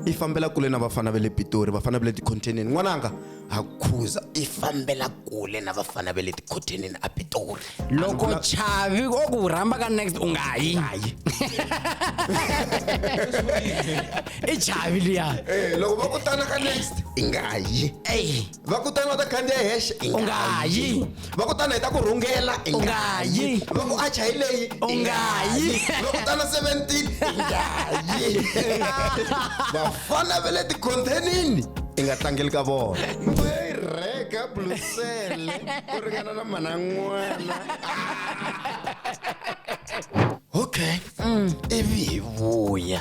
i fambela kule na vafana va le pitori vafana va le tikhonteneni n'wananga ha khuza i fambela kule na vafana va le tikhonteneni a pitori loko chavi o ku rhamba ka next u nga yi i chavi liya eh, loko va kutana ka next i nga yi va kutani va ta khandziya hexe i nga yi va kutani hi ta ku rhungela i nga yi va ku acha hi leyi i nga yi va kutana 17 i nga yi vafana va le tikhontenini i nga tlangeli ka vona rheka blusele ku ringana na mana n'wana okay mm. ivi hi vuya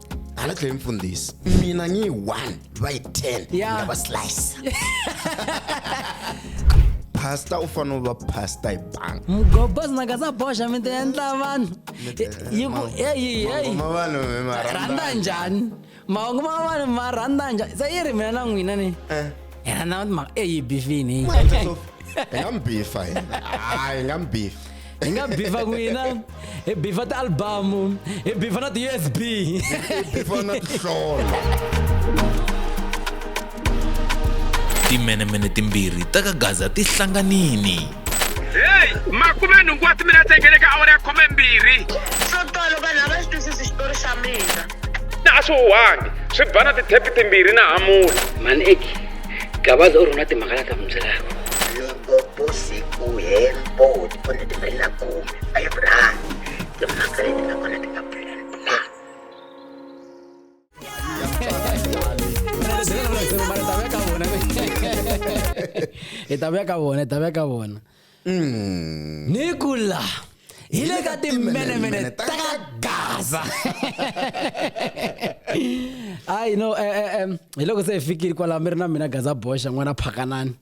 hala tlhela mfundhisi mina ngiyi 1 bayi 10 Yeah. ngaba slice pasta u fanele u va pasta hi banga mugobos naka sa boxa mi ti endla vanhu yi ku eyi eyi ma vanhu mi ma rhandza rhandza njhani mahungu ma vanhu ma rhandza njhani se yi ri mina na n'wina ni Eh. hi rhandza mhaka eyi bifini hi nga mi bifa hina hayi hi nga mi bifa Hi nga bifa n'wina hi bifa ti-albamu hi bifa na ti-usb bifa na tihlolo timenemene timbirhi ta ka gaza ti hlanganini heyi makume nhungu wa timinete nge le ka awara ya khume mbirhi swo tolo vanhu a va swi twisisi xitori xa mina na a swi huhangi swi ba na tithepi timbirhi na hamula mani eki gabaza u rhuna timhaka la ta mi byelaka vusiku hinkwabyo ti phone ti mbirhi na khume five rand timhaka leti nga kona ti nga plan na hi ta vuya ka vona hi ta vuya ka vona Mm. ni kula hi le ka timenemene ta ka gaza ayi no eh, eh, em, hi loko se hi fikile kwalaho mi ri na mina gaza boxa n'wana phakanani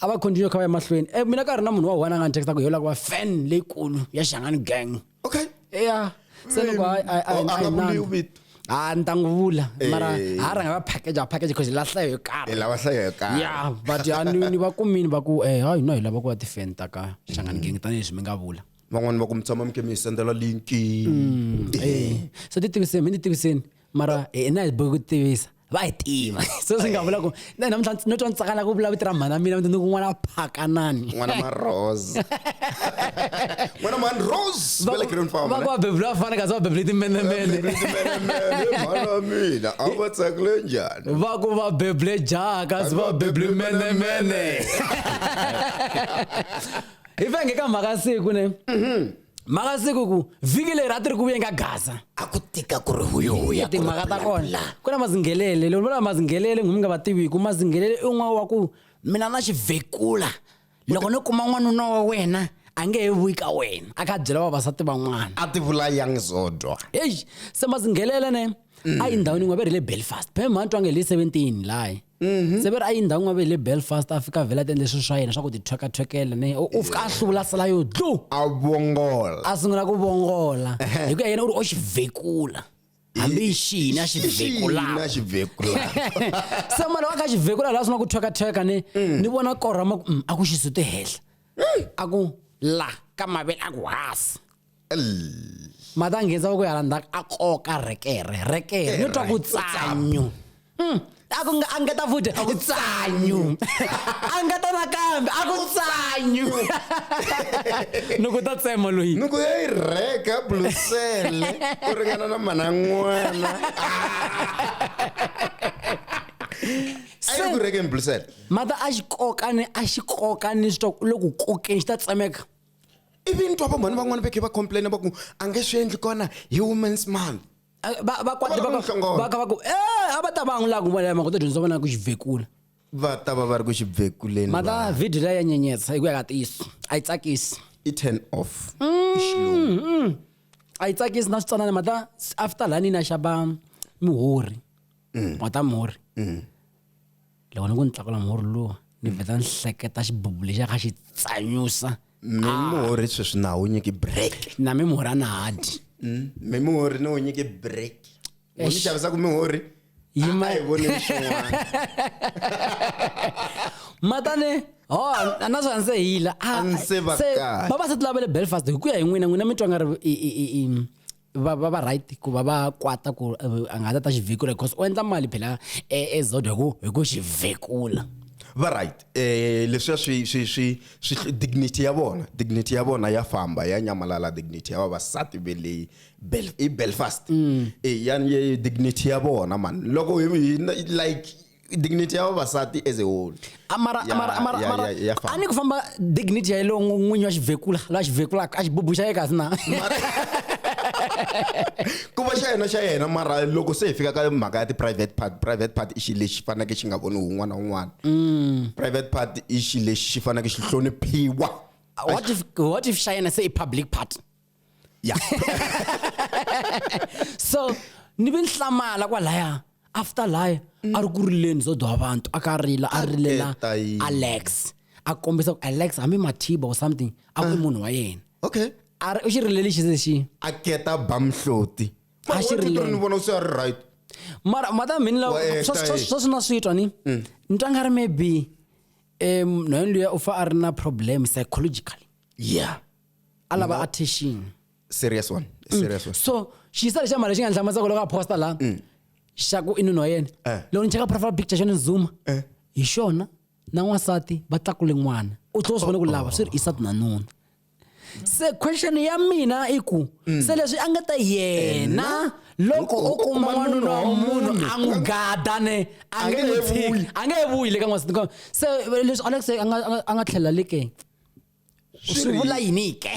a va continue kha va ya mahlweni e mina ka ha ri na munhu wa one a nga ni texta ku yola ku va fan leyikulu ya xangani gang okay eya se loko a oh, nga ku mbiwu vito ha ah, ni ta n'wi vula mara ha eh. rhanga va package va package because la hlayo yo karhi lava hlayo yo karhi ya but ya ni ni va kumini va ku eh hayi no hi lava ku va ti-fan ta ka xangani mm. gang tanihileswi mi nga vula van'wani va ku mi tshama mi ke mi hi sendela linki mm, eh. eh. se ti tiviseni mi ni tiviseni mara hina hi bohi ku tivisa va hi tiva se swi nga vula ku na namuntlha no twa ni tsakana ku vula vito ra mhana mina ni ku n'wana phakanani n'wana marose n'wana man rose va ku va bebula va fana kasi va bebule timenemene mhana mina a va tsakile njhani va ku va bebule jaha kasi va bebule menemene hi venge ka mhaka siku ne mhm. maka siku ku vhiki leri a ti ri ku vuyenga gaza a ku tika ku ri huyohuya timhaka ta kona ku na mazinghelele loko vula mazinghelele ngumi nga va tiviku mazinghelele i n'wana wa ku mina na xivhekula loko no kuma n'wanuna wa wena a nge he vuyi ka wena a kha byela vavasati van'wana a ti vula yang zodwa eyi se mazinghelele ne a yi ndhawini yin'we ve ri le belfast phe mhani twange hi le seventeen layi Mhm. se ve ri a yi ndhawu n'we ve hi le belfast a fika vhela a ti endle swilo swa yena swa ku ti thwekathwekela ne u u fika a hluvula sala yo dlu a vongola a sungula ku vongola hi ku ya yena u ri o xi vhekula hambi yi xini a xi Xina vhekulaka xi vhekula se mali wa kha xi vhekula laha swi nga ku thwekathweka ni ni vona korhama ku "Mm, a ku xi sute henhla a ku la ka mavele a ku hasi mati a nghenisa voko yala ndzhaku a koka rekere rekere ni twa ku tsanyu hmm. a ku a ngeta futhi tsanyu a ngeta nakambe a ku tsanyu ni ku ta tsema loyi ni ku ya yi rheka blusele ku ringana na mana n'wana a yi ku rhekeni blusele mata a xi kokani a xi kokani swi twa loko kokeni xi ta tsemeka ivi ni twa vamhani van'wana va khe va complaina va ku a nge swi endli kona hi women's month Eh, va- vakwati Va va va ka- nhlongolo. va ka va ku e a va ta va n'wi lava ku vona mhaka u ta dyondzisa vana ku xivhekula va ta va va ri ku xibvekuleni mhaka va- vhidiyo leyi ya nyenyetsa hi ku ya ka ntiyiso a yi tsakisi i turn off i xilungu a yi tsakisi na switsanana mata after lani na xava mihori wata mihori loko ni ku ni tlakula murhi luwa ni vheta ni hleketa xibubu lexiya kha xi tsanyusa mi murhi sweswi na wu nyiki break na mi murhi a na ha dyi mm, mi murhi ni wu nyiki break vo ni xavisaka mi murhi yima hi voni swin'wana matane ho a na swa ndzi hila a ah, ndzi va kahle vavasati lava le Belfast hi ku ya hi n'wina n'wina mi twa nga ri va va va right ku va va kwata ku eh, a nga ta ta xi vhikula because u endla mali phela eh, ezodo hi ku hi ku xi vhikula va right eh leswiya swi swi swi swi dignity ya vona dignity ya vona ya famba ya nyamalala dignity ya vavasati ve leyi Bel- i belfast mm. e ya ya- dignity ya vona mani loko hi- hi- like dignity ya vavasati as a whole amara Ya- amara amara ya- amara ya- ya famba. a ni ku famba dignity ya yeleyo n'wi- n'winyi wa xivhekula la xivhekulaka a xibubu xa ye kasi na ku va xa yena xa yena mara loko se hi fika ka mhaka ya ti-private part private part i xilo lexi faneleke xi nga voniwi un'wana na un'wana Mm. private part i xilo lexi xi faneleke xi hloniphiwa what if what if xa yena se i public part ya so ni ve ni hlamala kwalaya after laya a ri ku rileni zo dwa vantu a ka rila a rilela Ata yini. alex a kombisa ku alex hambi mathiba or something a ku munhu wa yena okay a ri u xi rilele xi se xi a keta ba mhloti A xi ri leni. ni vona se a ri right mara mata mhini la Wa ehla, swa- swa- eh. swa swi na swi twa ni ni twa nga ri maybe um nhwayeni luya u fa a ri na problem psychologically yeah a lava Nga- attention serious one Mm. serious one so xiyisa lexa mali xi nga nhlamusako loko a posta la xa ku i nuna wa yena Mm. Eh. loko ni cheka profile picture xa ni zuma Eh. hi xona na n'wansati va tlakule n'wana u tlhela u swi vona ku Oh. lava swi ri isati na nuna se question ya mina i ku Mm. se leswi a nga ta yena loko u kuma n'wanuna wa munhu a n'wi gada ne a nge n'wi tshiki a nge he vuyi le ka n'wansati se leswi alex a nga- a nga- a nga tlhelela le ke swi vula yini ke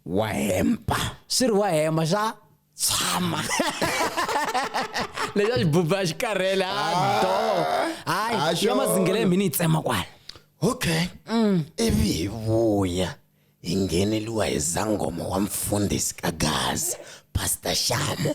wa hemba swi ri wa hemba swa tshama leswi a xi buba xi karhele a ah. do hayi ya mazingele mhini yi tsema kwala okay mm. ivi hi vuya hi ngheneliwa hi zangoma wa mfundhisi ka gaza pastor shamo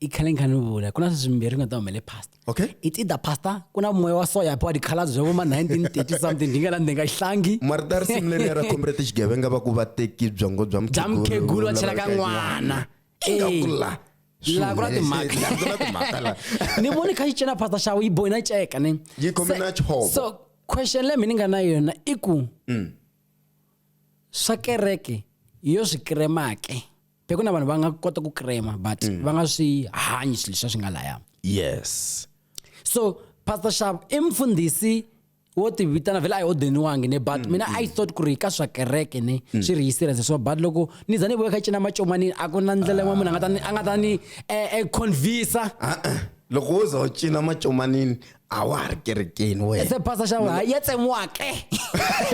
i khale ni kha ni vula ku na sweswi mimbirhi nga ta humele pasta okay it's either pasta ku na moya wa soya pho tikhalazi bya voma 1930 something ndi nga la ndzi nga hlangi marita ri simu leri ra comrade xigevenga va ku va teki byongo bya bya mukhegulu va chela ka n'wana ingakula laha ku na timhaka ni voni kha yi cela pasta xawu yi boyina ceka ni yi khome na chovo so question leyi mi ni nga na yona i ku mm. swa kereke yo swi kremake be ku na vanhu va nga kota ku krema but mm. va nga swi hanyi swilo leswi swi nga laya yes so pastor shab i mfundhisi wo tivitana vhele a hi odeniwangi ne but mm, mina mm. i thought ku ri ka swa kereke ne mm. swi ri yi serious so but loko ni za ni vuya kha cina macomani a ku na ndlela yin'wana munhu a nga ta ni a nga ta ni e, e, convinsa loko wo za u cina macomanini a wa ha ri kerekeni wena se pastor xa wena ya tsemiwa ke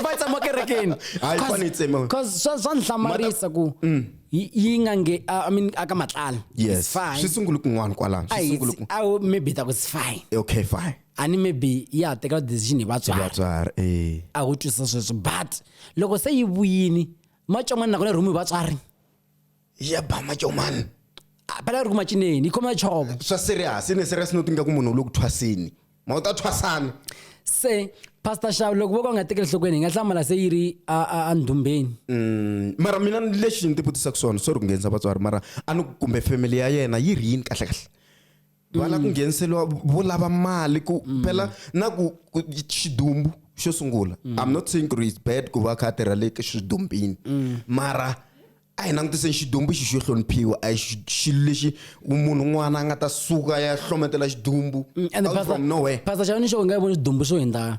va yi tsemiwa kerekeni Hayi, Cause- fane yi tsemiwa. cause swa swa ni hlamarisa ku Mm. yi yi nga nge a- i mean aka matlala yes It's fine. swi sungule kun'wana kwalano swi Ayi, sungule it's- ku awu, maybe ta ku it's fine okay fine a ni maybe ya ha teka decision hi vatswari vatswari eh a wu twisisa sweswo but loko se yi vuyini matson'wana nakona rhumu hi vatswari ya ba macomani Ah, pala ri ku macineni yi khoma chovo swa serious ne serious no tinga ku munhu u le ku thwaseni ma u ta thwasana se pastor shaw loko vo ka u nga tekeli nhlokweni hi nga hlamala se yi ri a- a- andhumbeni Mm, mara mina lexi ni tivutisaka swona sorry ku nghenisa vatswari mara a ni ku kumbe family ya yena yi ri yini kahlekahle va lava ku ngheniseriwa vo lava mali ku phela na ku ku- xidumbu xo sungula i'm not saying ku ri it's bad ku va a kha a tirha le ka xidumbini mara a hi langutiseni xidumbu xi xo hloniphiwa a hi xi- xilo lexi munhu un'wana a nga ta suka ya hlometela xidumbu Mm, ende out pastor- from nowhere pastor xavani xo nga yi voni xidumbu xo hindza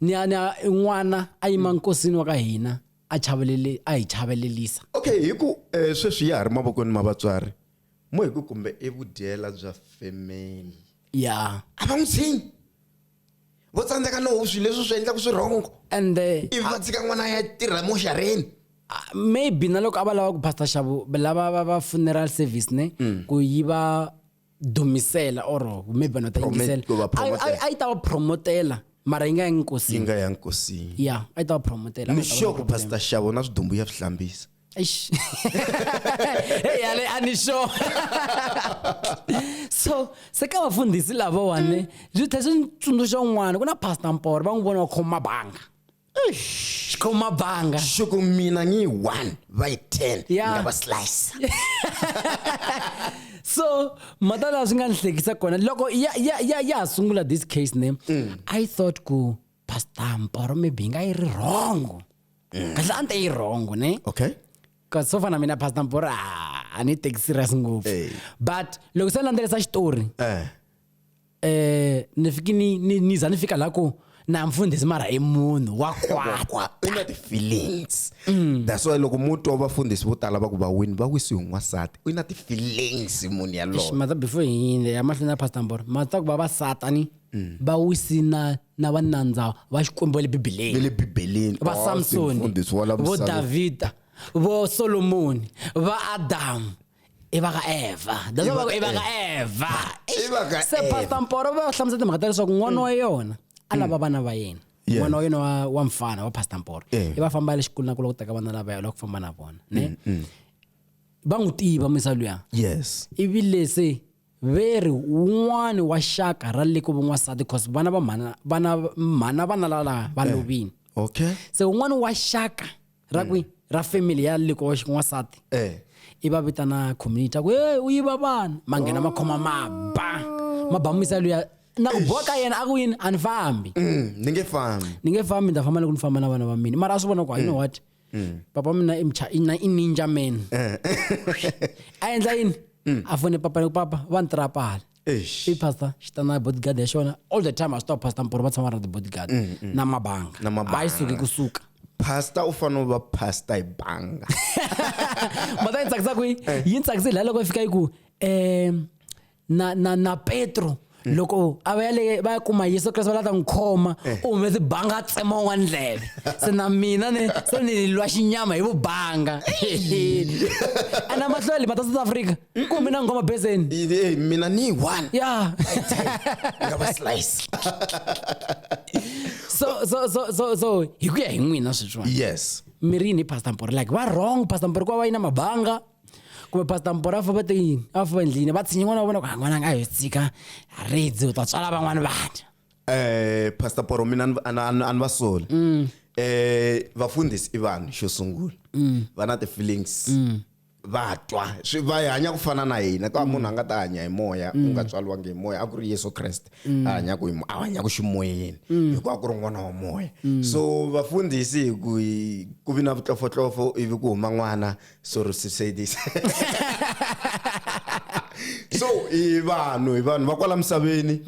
ni a ni a i n'wana a yima nkosini wa ka hina a chavelele a hi chavelelisa okay hi ku eh, sweswi ya ha ri mavokweni ma vatswari mo hi ku kumbe i vudyela bya family ya a va n'wi tshinyi vo tsandzeka no swilo leswi swi endlaka swi rhongo and eh, ivi va tshika n'wana ya tirha moxareni ah, maybe na loko a va lava ku pastor xavo lava va va funeral service ne ku yiva dumisela or maybe vanhu va ta Promote- yingisela ku va A- a- promotela. a yi ta va promotela mara yi nga yangi yi nkosini nga ya nkosini ya a yi ta va promotela ni sure ku pastor xavo na swidumbu ya swi hlambisa Eish. hey yale anisho so se ka vafundhisi lavawani byi tlhe swi ni tsundzuxa un'wana ku na pastor mporo va n'wi vona va khoma banga xikhomabanga shuku mina ngiyi one va yi ten Ya. nga va slice so mhata laha swi nga ni hlekisa kona loko ya ya ya ya ha sungula this case ne i thought ku pastor mporo maybe yi nga yi ri wrong kahle a ni ta yi wrong ne okay kasi so fana mina pastor mporo a a ni teki serious ngopfu Ey. but loko se ni landzelisa xitori eh eh ni fiki ni ni ni za ni fika la ku na mfundhisi mara i munhu wa kwata Kwa- u na ti-feelings that's why loko mo twa vafundhisi vo tala va ku va wini va wisiwe hi n'wansati u na ti-feelings munhu yaloye mata before hi yinde ya mahlweni ya pastor mboro mata ku va va satani va wisi na na vanandza va xikwembu va le bibeleni le bibeleni va Oh, samsoni mfundhisi wa lamusaveni. vo davhida vo solomoni va adamu i va ka eva that's why va ku i va ka eva i va ka se pastor mporo va hlamusela timhaka ta leswaku n'wana wa yona a lava vana va yena Yeah. n'wana wa yena wa, wa mfana wa pastor mporo Yeah. i va famba ya le xikolweni na ku la ku teka vana lava ya la ku famba na vona ne va n'wi tiva misa luya yes ivi lese ve ri wun'wani wa xaka ra le ku van'wansati cause vana va mhana vana mhana vana lava va lovini okay se wun'wani wa xaka ra kwi ra family ya likoxi n'wansati Eh. i va vitana community a ku e u yiva vana ma nghena ma khoma maba ma ba misa luya na ku boha ka yena a ku yini a ni fambi Mm, ni nge fambi ni nge fambi ni ta famba loko ni famba na vana va mina mara a swi vona ku you know what papa mina i mcha- i na- i ninja man a endla yini a fone papa ni ku papa va ni tirapala Eish. i pastor xi ta na bodyguard ya xona all the time a swi tiva pastor mporo va tshama va ri na ti-bodyguard na mabanga Mm, Na mabanga. a yi suki kusuka pastor u fanele u va pastor hi banga mata yi tsakisa kwihi yi tsakise laha loko yi fika yi ku um na, na, na petro loko a va ya le va ya kuma yesu kreste va lava ta n'wi khoma u humese banga a tsema un'wana ndleve se na mina ni se ni lwa xinyama hi vubanga ana mahlweli mata south africa Mm-mm, mina ngoma bezeni Hey, hey, mina ni one ya ngaba slice so so so so so hi ku ya hi n'wina sweswiwani yes mi ri yini hi pastor mpore like va wrong pastor mpore ku va va yina mabanga kumbe pastor mpore a famba te yini a famba endlini va tshinyi n'wana wa vona ku ha n'wananga a yo tsika ridzi u ta tswala van'wana vana eh pastor poro mina a ni- a ni- a ni- a ni va soli eh vafundhisi i vanhu xo sungula va na ti-feelings va twa swi va hanya ku fana na hina ka munhu a nga ta hanya hi moya u nga tswariwangi hi moya a ku ri yesu kreste a hanyaku hi a hanyaku ximoyeni hikuva ku ri n'wana wa moya so vafundhisi hi ku hi ku vi na vutlofotlofo ivi ku huma n'wana so ri susedis so i vanhu i vanhu va kwala misaveni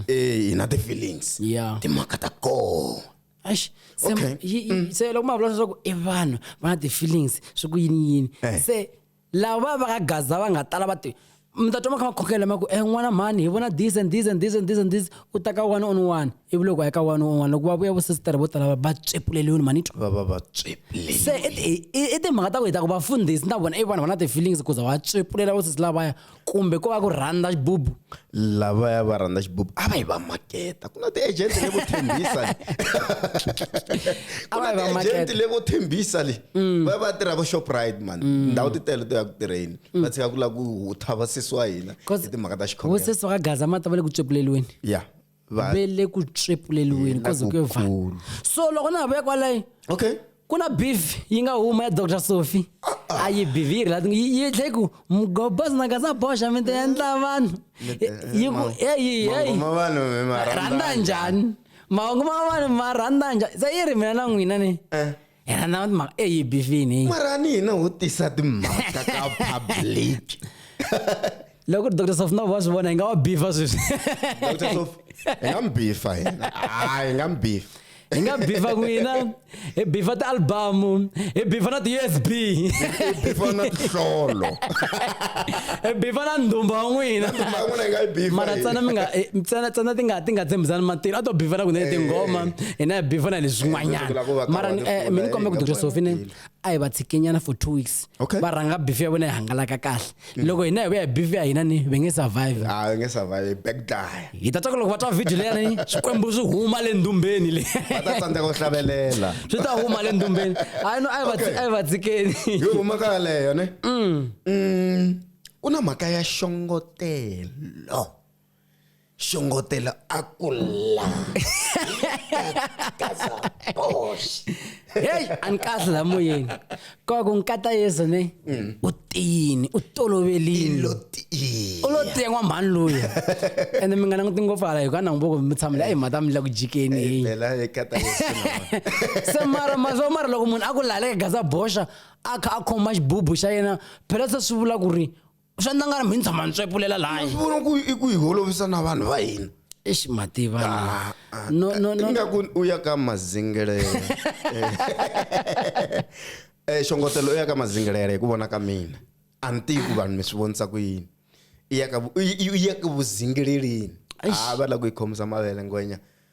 eh hi na ti-feelings Yeah. timhaka ta kona Eish, se Okay. yi- yi- se loko ma vula leswaku i vanhu va na ti-feelings swi ku yini yini Eh. se lava va va ka gaza va nga tala va ti mi ta twa ma kha ma khongela ma ku e n'wana mhani hi vona this and this and this and this and this u ta ka one on one ivi loko a ya ka one on one loko va vuya vosesitere vo tala va- va tswepuleliwini mhani twa va va va tswepleni se i ti- i i timhaka ta ku hi ta ku vafundhisi na vona i vanhu va na ti-feelings kuza va tswepulela vosesi lavaya kumbe ko va ku rhandza xibubu lavaya va rhandza xibubu a va yi va maketa ku na ti-agent levo tshembisa ku na ti-agent levo tshembisa le mm. va va tirha vo shoprite mani mm. ndhawu ti tele to ya ku tirheni mm. va tshika ku lava ku hutha va sesi wa hina hi timhaka ta xikhomvo sesi wa ka gaza mati va le ku tswepuleliweni ya yeah. va ve le ku tswepuleliweni ko ze ku yo va so loko na ha vuya kwalayo okay ku na beef yi nga huma ya dr sophie a yi beef yi ri la yi tlhe ku mgobas na ka sa boxa mi ta endla vanhu yi ku eyi eyi rhandza njhani mahungu ma vanhu ma rhandza njhani se yi ri mina na n'wina ni eh. yena na timhaka eyi bivini mara ni hina ho tisa timhaka ka public loko dr sofnov wa swi vona hi nga wa bifa sweswi dr sof hi nga mi bifa hina hayi hi nga mi bifa hi nga bifa n'wina hi bifa ti-albamu hi bifa na ti-usb hi bifa na tihlolo hi bifa na ndhumba wa n'wina mara ntsena mi nga eh, ntsena ntsena ti nga ti nga tshembisani matilo a to bifa na kunene tinghoma eh. ene a before na le zwin'wanyana Leswaku la ko va ka mara wona eh, kula, mi ni kombe eh, ku doctor nga sofi ne pfumeleli. a hi va tshikinyana for two weeks Okay. va rhanga bifi ya vona yi hangalaka kahle loko hina hi vuya hi bifi ya hina ni ve nge survive a va nge survive back die hi ta twa ku loko va twa video leyani swikwembu swi huma le ndumbeni le va ta tsandzeka ku hlavelela swi ta huma le ndumbeni a no a yi va tsi- Okay. a yi va tsikeni hi huma ka yaleyo ne Mm, ku na mhaka ya xongotelo Xongotela a ku la. heyi a ni kahle la moyeni koko nkata yezo ne mm. u tiyini u tolovelini u lo tiya n'wamhani loyi ende mi nga languti ngopfu hala hikuva nangu voko mi tshamile ayi mhata mi la ku jikeni se mara mazo mara loko munhu a ku laleka gaza boxa a kha a khoma xibubu xa yena phela se swi vula ku ri swa ndla nga ri mi tshama ni tswepulela laha swi vona ku i ku hi holovisa na vanhu va hina exi mativa ah, ah, no no no ingaku u ya ka mazingelele eh xongotelo u ya ka mazingelele hi ku vona ka mina a ni tivi ku vanhu mi swi vonisa ku yini i ya ka i ya ka vuzingeleleni a ah, va la ku yi khomisa mavele ngwenya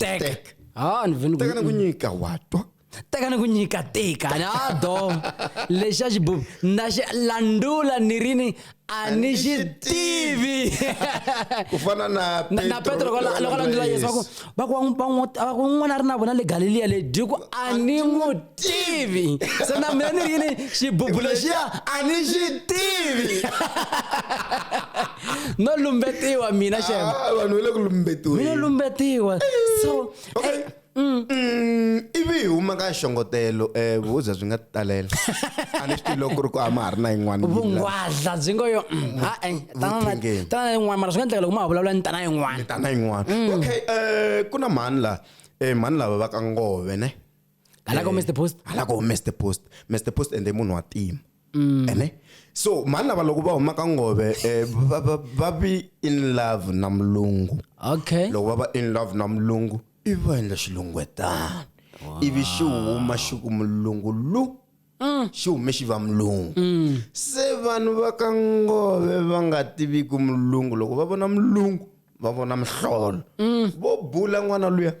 tek Tek. ha ni vhe ni teka na ku nyika wa twa teka ni ku nyika tika ni a do lexi a xi bubi na xi landula ni ri ni a ni xi tivi ku fana na Na- na petro loko la- loko a landula yesu va ku va ku va n'wi- va n'wi- va ku n'wana a ri na vona le galiliya le dyi ku a ni n'wi tivi se na mina ni ri yini xibubu lexiya a ni xi tivi no lumbetiwa mina xema ah, vanhu va le ku lumbetiweni no lumbetiwa so okay. eh, Mm. Mm, ivi hi huma ka xongotelo um eh, vuza byi nga talela a ni swi tivi loko ku ri ku a ma ha ri na yin'wana vungwadla byi ngo yo mm, mm, hae tana na yin'wana mara swi nga endleka loko ma ha vulavula ni tana yin'wana tana yin'wana okay um ku na mhani laha um mhani lava va ka ngove ne Hala ko Mr Post. hala ko Mr Post Mr Post ende i munhu wa tima ene so mhani lava loko va huma ka ngove eh, va- va- va be in love na mulungu Okay. loko va va in love na mulungu i va endla xilungwetana ivi xi huma xi ku mulungu lu xi hume xi va mulungu se vanhu va ka ngove va nga tiviki mulungu loko va vona mulungu va vona mihlolo vo bula n'wana luya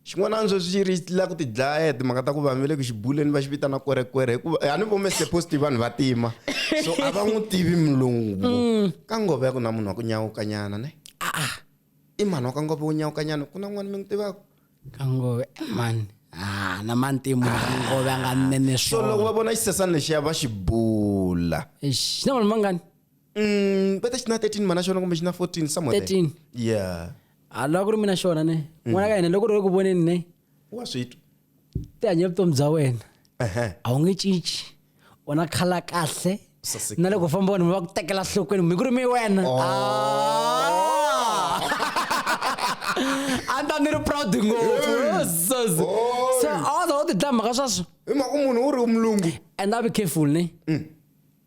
xin'wana antswo swi ri la ku tidlaya hi timhaka ta ku vanhu va le ku xibuleni va xi vitana kwerekwere hikuva a ni vome seposti vanhu va tima so a va n'wi tivi mulungu mm. ka ngova ya ku na munhu wa ku nyawukanyana ne aa i mhani wa ka ngova wo nyawukanyana ku na n'wana mi n'wi tivaka ka ngova eh, mani a na mantimu ngova ya nga nene so loko va vona xisesani lexiya va xi bula na vanhu mangani Mm, kwete xi na 13 mana xona kumbe xi na 14 somewhere there. 13 yeah a lava ku ri mina xona ne n'wana ka hina loko ri ku voneni ne wa switwa ti hanye vutomi bya wena Ehe. a wu nge cinci u na khala kahle Sasekile. na loko u famba vanhu va ku tekela nhlokweni mi ku ri mi wena Ah. a ni ta ni ri proud ngopfu Jesus. so a wa za u ti dlaya mhaka sweswo hi mhaka munhu u ri umlungu and a be careful ne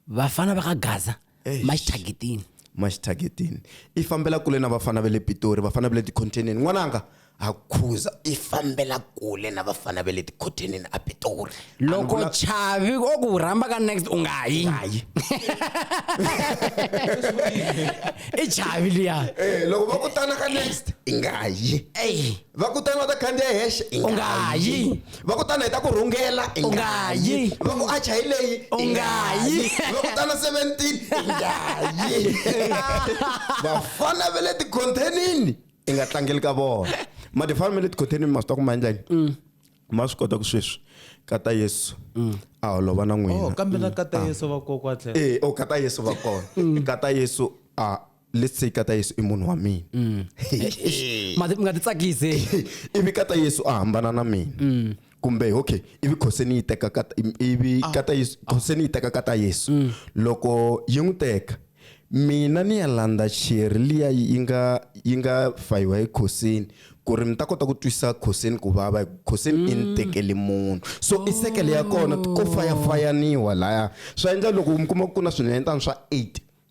vafana va ka gaza Eish. maxithagetini maxithagetini i fambela kule na vafana va le pitori vafana va le tikhonteneni n'wananga ha khuza i fambela kule na vafana va le tikhonteneni a pitori loko chavi o ku rhamba ka next u nga yi hayi i chavi liya Eh, loko va kutana ka next i nga yi eyi va kutani va ta khandziya hexe i U nga yi. va kutani hi ta ku rhungela i U nga yi. va ku acha hi leyi U nga yi. va kutana 17 i nga yi vafana va le tikhontenini i nga tlangeli ka vona madifana ma le tikhontenini ma swi ta ku ma endla yini ma swi kota ku sweswi kata yesu a holova na Oh, n'wina kambe na kata Yesu va kokwa tlhela. Eh, o kata Yesu va kona. Kata Yesu a let's say kata yesu i munhu wa mina mm. ma ti- mi nga ti tsakise ivi kata yesu a hambana na mina mm. kumbe okay ivi khose ni yi teka kata im- ivi Ah. kata yesu khose ni yi teka kata yesu Mm. loko yi n'wi teka mina ni ya landza cheri liya yi nga yi nga fayiwa hi khosini ku ri mi ta kota ku twisa khosini ku vava hi ku khosini Mm. i ni tekeli munhu so i sekele ya kona ko fayafayaniwa laya swa endla loko mi kuma ku ku na swinenetana swa eight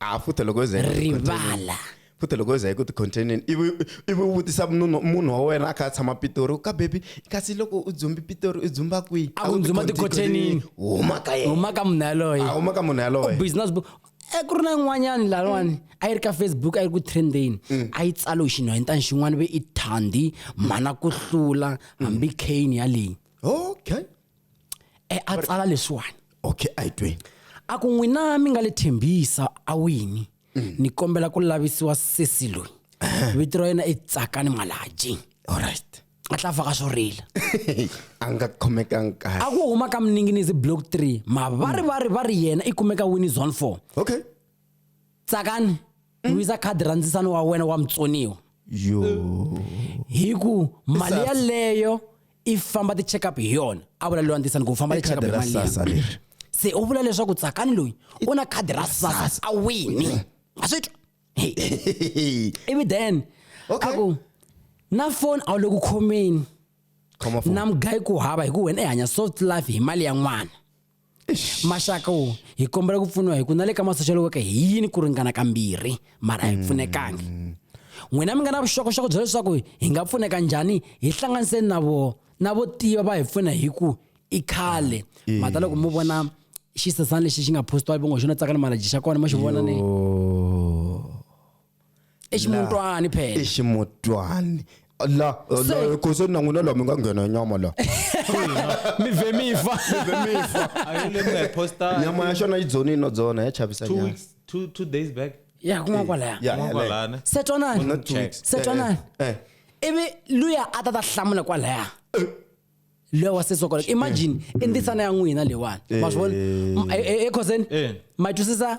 a futa loko yo za yi nga ku containing. rivala futa loko yo za yi ku ti-containeni ivi ivi u vutisa munhu munhu wa wena a kha a tshama pitori u ka bebi kasi loko u dzumbi pitori u dzumba kwihi A ku dzumba ti-containing. huma ka yena huma ka munhu yaloye a huma ka munhu yaloye business book e ku ri na yin'wanyani laniwani a yi ri ka facebook a yi ri ku trendeni a yi tsalo hi xinhwanyetana xin'wana ve i thandi mhana ku hlula hambi kane yaleyi okay e a tsala leswiwani okay a hi tweni a ku n'wina mi nga le thembisa a wini mm. ni kombela ku lavisiwa sesi loyi vito ra yena i tsakani malaji alright a tla faka swo rila a nga khomekanga kahle a ku huma ka mninginisi block 3 mavari vari va ri yena i kumeka wini zone 4 okay tsakani wisa khadi ra ndzisano wa wena wa mutsoniwa yo hi ku mali Sasa. yaleyo i famba ti-check up hi yona a vula lewa ndzisano ku famba ti-check up khadi hi ra mali leyi. sasa leri se u vula leswaku tsakani loyi u na khadi ra sasa a wini a swi twa Hey, ivi then Okay. a ku na foni a wu le ku khomeni khoma foni. na mugayi ku hava hi ku wena i hanya soft life hi mali ya n'wana maxaka wo hi kombela ku pfuniwa hi ku na le ka masoxeliweke hi yini ku ringana kambirhi mara hi pfunekangi mm. n'wina mi nga na vuxokoxoko bya leswaku hi nga pfuneka njhani hi hlanganiseni na vo na vo tiva va hi pfuna hi ku i khale mm. mhata loko mo vona xisesana lexi xi nga postiwa vongo xona tsaka ni malaji xa kona mo xi vona ni eximutwani phela eximutwani la la khosi na n'wina la mi nga nghena nyama la mi ve mi fa nyama ya xona yi dzonini no dzona ya chavisa two weeks two two days back ya kuma kwalaya ya kuma kwalana se twanani not two weeks se twanani eh, eh, eh. ivi luya a ta ta hlamula kwalaya loya wa setso kwalaya imagine i ntisana ya n'wina leyiwani ma swi vona ekhoseni ma twisisa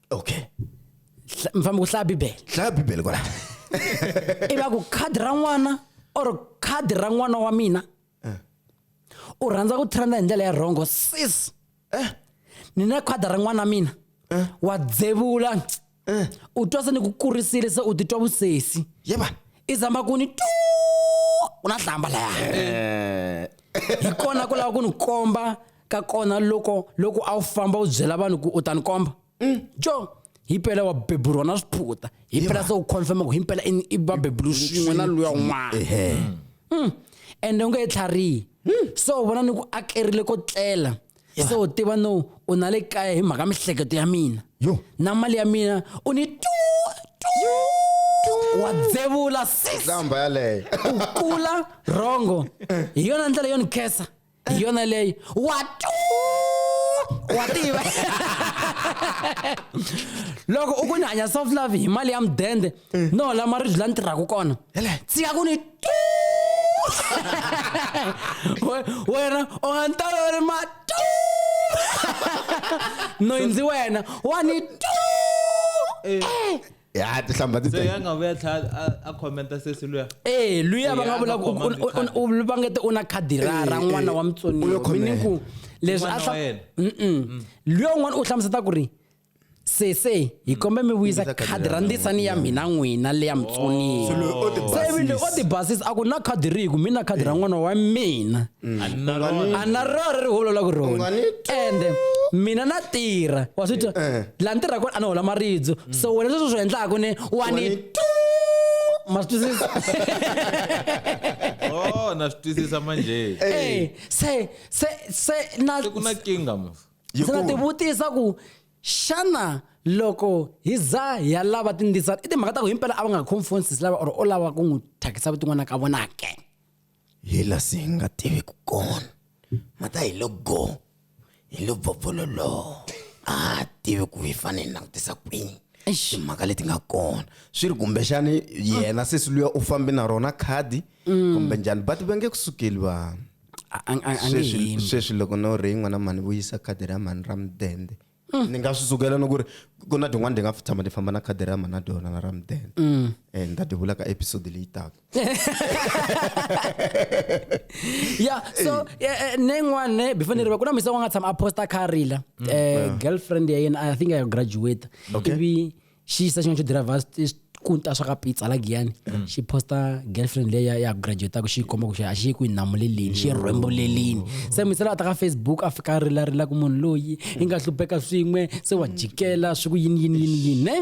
okay mi fanele ku hlaya bibele hlaya bibele kwala i va ku khadi ra n'wana or khadi ra n'wana wa mina eh. u rhandza ku trenda hi ndlela ya rhongo sis eh. ni na khadi ra n'wana mina eh. wa dzevula u twa se ni ku kurisile se u titwa vusesi yeba i zama ku ni tu ku na hlamba laya hi kona ku lava ku ni komba ka kona loko loko a wu famba u byela vanhu ku u ta ni komba mm. jo himpela wa beburiwa na swiphuta himpela se u confirma ku himpela i va bebulu swin'we na luya un'wana mm. ende u nge he tlharihi hmm. se u vona ni ku akerile ko tlela se u tiva no u na le kaya hi mhaka mihleketo ya mina na mali ya mina u ni tu wa dzevula sisamba yaleyo u kula rongo hi yona ndlela yo ni khesa hi yona leyi watu wa tiva loko u ku ni hanya soft love hi mali ya mudende no la maribyi la ni tirhaka kona tsika ku ni tu wena u nga ni toloveri ma tu noyindzi wena wa ni tu eh. Eh. ya tihlambha ti se ya nga vuya tlhela a- a commenta sesi luya ee luya Eh, va nga a vula nga ku khoma u- mikhadi. u- u- va nge te u na khadi ra ra Eh, n'wana eh, wa u lo mutsoniwa khomela. meaning ku leswi N'wana a hla- wa yena. Mm. Mm-mm. luya un'wana u hlamuseta ku ri sese hi kombe mi vuyisa Vuyisa khadi khadi ra ra ndisani ya mina n'wina leya Oh. mutsoniwa Swilo o ti se vile o basisa. tibasisa a ku na khadi rihi ku mi na khadi ra n'wana wa mina a ni na rona a na rona ri holola ku rona Unga ni twi. ende mina na tirha wa swi twa Eh. laha ni tirha kona a ni hola maribyo so wena sweswo swi endlaku ni wa ni Wani- ma swi twisisa oh na swi twisisa manje Eh, se se se na se ku na kinga mo Yi se na ku- tivutisa ku xana loko hi za hi ya lava tindisana i timhaka ta ku himpela a va nga confonsisi lava or o lava ku n'wi thyakisa vutin'wana ka vona ke hi la si hi nga tiviku kona mata hi lo go hi lo bvovololoho a ha ha tivi ku hi fanele hi langutisa kwini Eish. timhaka leti nga kona swi ri kumbexani yena sesi luya u fambe na rona khadi kumbe njhani but va nge ku sukeli vanhu A- a- a- a nge sweswi hembi. sweswi loko no ri n'wana mhani vuyisa khadi ra mhani ra mudende mm. ni nga swi sukela ni ku ri ku na tin'wana ti nga tshama ti famba na khadi ra mhana dona na ra mudende mm. eh, ni ta ti vula ka episode leyi taka ya so eh, eh, ne yin'wana ne before ni riva ku na misa wa nga tshama a posta kha rila mm. girlfriend ya yena i think i graduate ivi xi yisa xin'wana xo dirayivha kunta swa ka pizza la giyani mm. xi posta girlfriend leyi ya graduataku xi yi komba ku xi a xi yi ku yi namulelini xi yi mm. rhwembulelini mm. se misela a ta ka facebook a fika a rilarila ku munhu loyi i nga hlupheka swin'we se wa jikela swi ku yini yini yini yini ne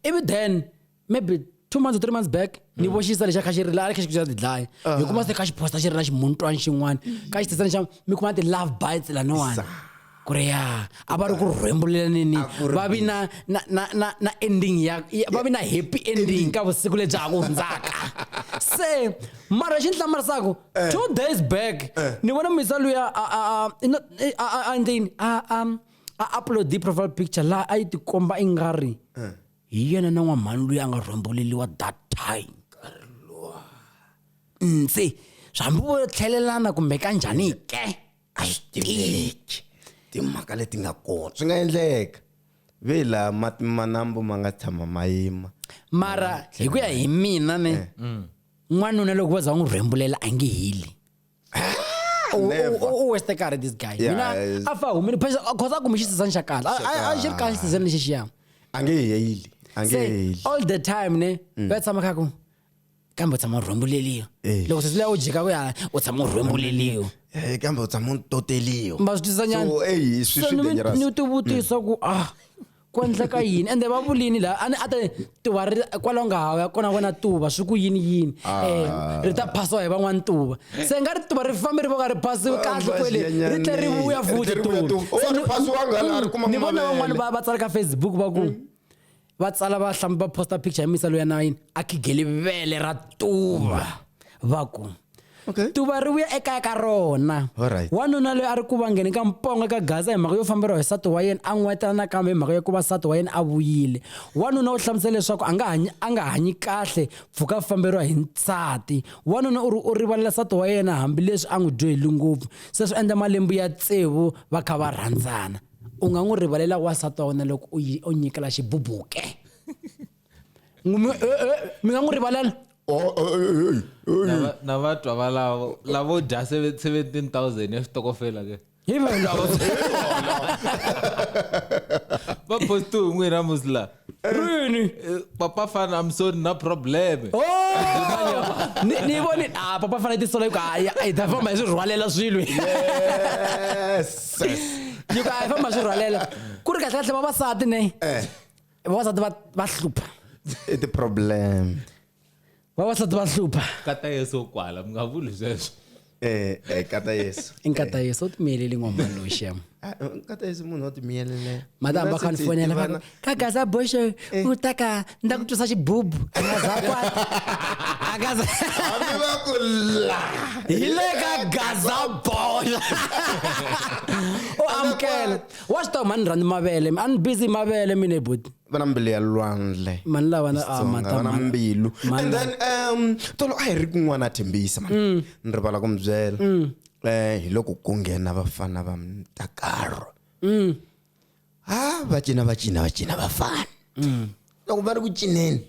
ivi then maybe two months or three months back ni mm. voxisa lexi a kha xi ri la a kha xi kuxa tidlaya ah. hi kuma se kha xi posta xi ri na ximuntwani xin'wana ka xi tisani xa mi kuma ti-love bites laniwani ku ri ya a va ri ku rhwembulelanini va vi na na na na na ending ya va vi na happy ending ka vusiku lebyi ha ku hundzaka se mara xi ni hlamarisaka eh. two days back eh. ni vona misa luya a a a a a ndleni a a a upload profile picture laha a yi tikomba i nga ri eh. hi yena na n'wamhani loyi a nga rhwamboleliwa that time ntse hambi vo tlhelelana kumbe ka njhani ke a swi tiveki timhaka leti nga kona swi nga endleka ve la mati manambu ma nga tshama ma yima mara hi ku ya hi mina ne eh. n'wanuna loko va za va n'wi rhwembulela a nge heli u- Never. u- u waste karhi this guy Yeah, mina it's- a fa humile phesa cause a kume xisizani xa kahle A- a- a xi ri kahle xisizani lexi xiya a nge heyili a nge se heyili all the time ne va tshama kha ku kambe u tshama u rhwembuleliwa Eh. loko sesi leya u jika ku ya u tshama u rhwembuleliwa Eh, kambe u tshama u toteliwa ma swi twisisa nyana So, eyi, swi- swi dangerous. ni tivutisa ku ah ku endleka yini ende va vulini la a ni a te tuva ri kwalaho nga hava ya kona wena tuva swi ku yini yini um ri ta phasiwa hi van'wana tuva se nga ri tuva ri fambe ri voka ri phasiwe kahle kwele ri tle ri vuya futi tuvani vona van'wana va va tsala ka facebook va ku hmm. va tsala va hlambi va posta picture ya misa loya na yini a khigeli vele ra tuva va ku Okay. tuva ri vuya ekaya ka rona Alright. wanuna loyi a ri ku vangeni ka mponga ka gaza hi mhaka yo famberiwa hi nsati wa yena a n'wetana nakambe hi mhaka yo ku va nsati wa yena a vuyile wanuna u hlamusela leswaku a nga hanyi a nga hanyi kahle pfuka a famberiwa hi nsati wanuna u ri u rivalela nsati wa yena hambileswi a n'wi dyoheli ngopfu se swi endla malembe ya tsevu va kha va rhandzana u nga n'wi rivalela wansati wa wena loko u yi- u nyikela xibubuke mi nga n'wi rivalala na va twa valavo lavo dya 17000 ya xitokofela ke hi valavo va posti hi n'wina musla rini eh, papa fana i'm sorry na probleme ni voni a ah, papa fana tisola ku hayi a hi ta famba hi swi rhwalela swilo yes yi ku a hi famba hi swi rhwalela ku ri kahle kahle vavasati ne eh. vavasati va va hlupha i ti-problem vavasati va hlupha kata yeso kwala mi nga vuli sweswo eh eh kata yesu i nkata yeso u timiyeleli ngomani loyi xem Ah, kata yesu munhu wa timiyelele madam va kani fonela va ku, ka gaza boxe u ta ka ni ta ku twisa xibubu a nga za kwata a nga za hambi va ku la hi le ka gaza boxa u amukela wa swi tiva mhani rhandzi mavele a ni busy mavele mina hi buti va na mbilu ya lwandle mani lava na ah, Xitsonga, mata- va na mani- mbilu mani and then um tolo a hi ri kun'wana a thembisa mani Mm. ni rivala ku mi byela um hi loko ku nghena vafana va mtakaro Mm. ha va cina va cina va cina vafana Mm. loko va ri ku cineni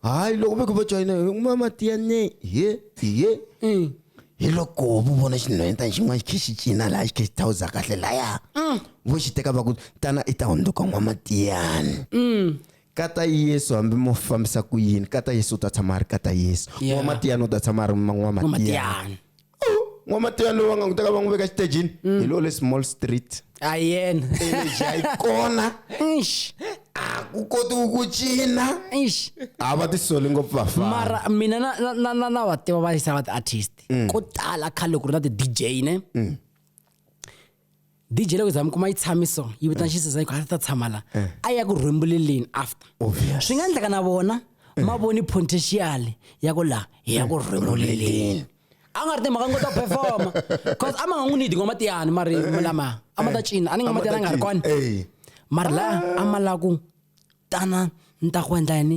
hayi loko ve ku va joyina mama tiyane ye ye mm. hi loko vu vona xinhwenyetana xin'wana xi khe xi cina laha xi khe xi thawuza kahle laya mm. vo xi teka va ku tana i ta hundzuka n'wamatiyani mm. kata yesu hambi mo fambisa ku yini kata yesu u ta tshama a ri kata yesu n'wamatiyani u ta tshama a ri n'wamatiyani n'wamatiya lowa nga n'wi teka va n'wi veka xitejini hi lowo le small street a yena energy a yi kona Eish, a ku kotiwi ku cina eish. a va tisoli ngopfu vafana mara mina na- na- na- na- na va tiva va yisa va ti-artist ko tala khale ku ri na ti-dj ne dj loko za mi kuma yi tshami so yi vitana eh. xisizani ku a ta tshama la eh. a ya ku rhwembuleleni after swi nga endleka na vona eh. ma voni potential ya ku laha hi ya ku rhwembuleleni a nga ri timhaka ngo to performa cause a ma nga n'wi nidi ngoma tiyani mari lama a ma ta cina a ni ngoma tiyani a nga ri kona mari laha a ma lava ku tana ni ta ku endla yini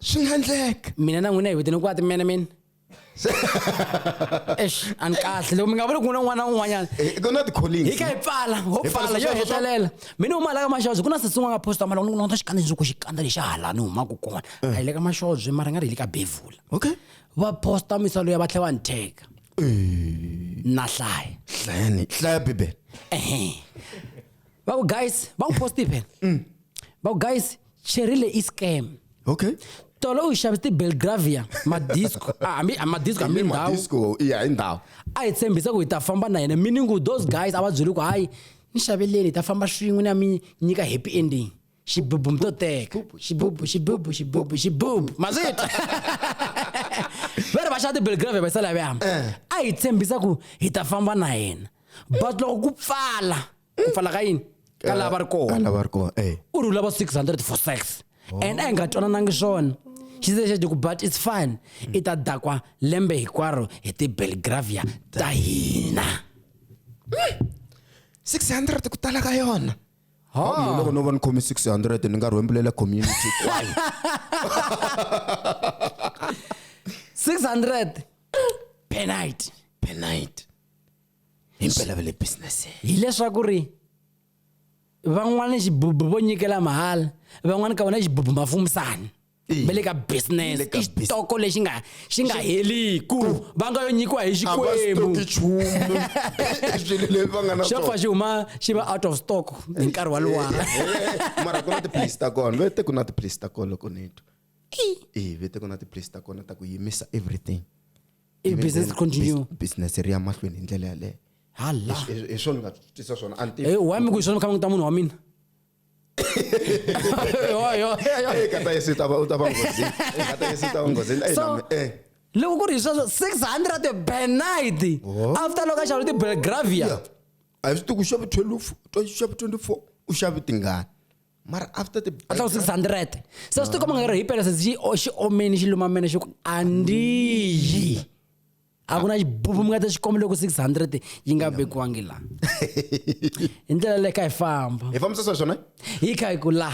swi nga endleka mina na n'wina hi vitene ku ati mene mina eish a ni kahle loko mi nga vuli ku na n'wana un'wanyana eh, ku na ti-collings hi ka hi pfala ho pfala yo hetelela mina huma la ka maxoze ku na sesi un'wana nga posta mara loko nota xikandza lexi ku xikandza lexi halani humaka kona a hi le ka maxoze mara nga ri hi le ka bevula okay va posta misalo ya va tlhe va ni teka eh. na hlaya hlayani hlaya bibele ehe va ku guys va n'wi posti phela mm. va ku guys cherile i scam okay tolo u xavisa tibelgravia madisco ah, hambi ah, madisco hambi ndhawu madisco iya hi ndhawu a hi tshembisa ku hi ta famba na yena meaning ku those guys a va byeli ku hayi ni xaveleni hi ta famba swin'we ni ya mi nyika happy ending xibubu mi to teka xibubu xibubu xibubu xibubu ma swi twa va ri va xava tibelgravia va yisala ya veyama eh. a hi tshembisa ku hi ta famba na yena but loko ku pfala ku pfala ka yini ka lava va ri kona ka lava va ri kona eh u ri u lava 600 for sex and a hi nga twananangi swona xi ze xi ku but it's fine i ta dakwa lembe hinkwaro hi ti-belgravia ta hina 600 ku tala ka yona Mina loko no va ni khome 600 ni nga rhwembulela community kwayo 600 per night per night himpela va le business hileswaku ri van'wana xibubu vo nyikela mahala van'wana ka vona xibubu mafumisani va le ka business i xitoko lexi nga xi nga heliku va nga yo nyikiwa hi xikwembu swilo leswi va nga na xo fa xi huma xi va out of stock hi nkarhi wa luwa mara ku na tiphilisi ta kona vete ku na tiphilisi ta kona loko ni twa ee vete ku na tiphilisi ta kona ta ku yimisa everything I Even business then, continue. bus- business ri ya mahlweni hi ndlela yaleyo hala Hi- hi hi swona ni nga tisa swona a ni tivi. Eh, why mi ku hi swona mi kha mi ta munhu wa mina Yo, yo, yo. Eh, kata yesu u ta va- u ta va nghozini Eh, kata yesu u ta va nghozini Eh, So, nami, eh. loko ku ri hi sweswo 600 per night Oh. after loko a xava tibelgravia Yeah. a hi swi tivi ku xava 12 to xava 24 u xave tingani mara after the a tlakuse 600 se swi tikomanga ri hipela se xi o- xi omeni xi lumamene xi ku a ndiyi a ku na xibubu mi nga ta xi kombela ku 600 yi nga vekiwangi la hi ndlela leyi ka hi famba hi fambisa swa swona hi kha hi ku la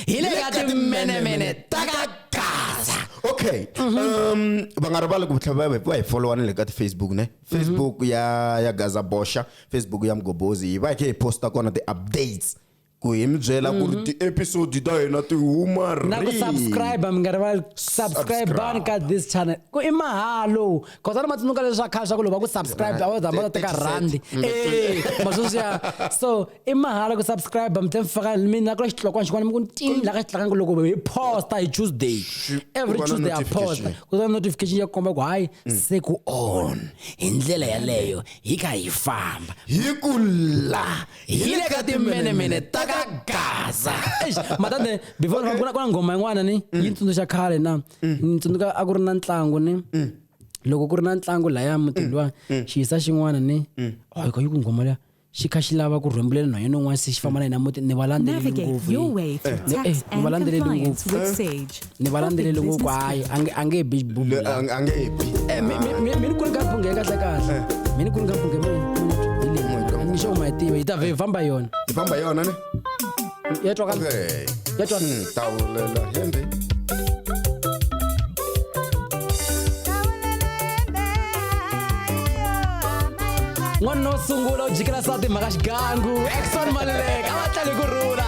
hi le ka timenemene ta ka gaza okay um va nga rivali ku tlhela va va hi followa na le ka ti-facebook ne facebook ya ya gaza bosha facebook ya mgobozi hi va hi khe hi posta kona ti-updates ku hi mi byela ku ri ti-episode ta hina ti huma ri na ku subscribe mi nga rivali subscribe bani ka this channel ku i mahalo cause a ni ma tsundzuka leswi swa khale swa ku loko va ku subscribe a wu zama ta teka rhandi e ma sweswiya so i mahalo ku subscribe mi tlhela mi faka mi na kula xitlokwana xin'wana mi ku ntini la ka xi tlakanga loko hi posta hi tuesday every tuesday ya posta ku ta notification ya komba ku hayi mm. se ku on hi ndlela yaleyo hi kha hi famba hi ku la hi le ka timenemene ta ka gaza matande before okay. kuna kuna ngoma yin'wana ni mm. yi tsundzuxa khale na mm. ni tsundzuka a ku ri na ntlangu ni mm. loko ku ri na ntlangu laya mutini luwa xiyisa xin'wana ni hoyko oh, yi ku ngoma leya xi kha xi lava ku rhwembulela na yena un'wana se xi famba na yena muti ni valandzeleli ngopfu ni eh, valandzeleli ngopfu ni va landzeleli ngopfu hayi a nge a nge bi a nge bi eh, mi ni ku ri ka phunge ka ta kahle eh. mi ni ku ri ka phunge mi hi leyi ni xo ma yi tiva yi ta vhe famba yona yi famba yona ne ya twa ka ya twa hmm, tawulela hende n'wanuna wo sungula u jikela sati mhaka xigangu exon maluleka a va tlali ku rhula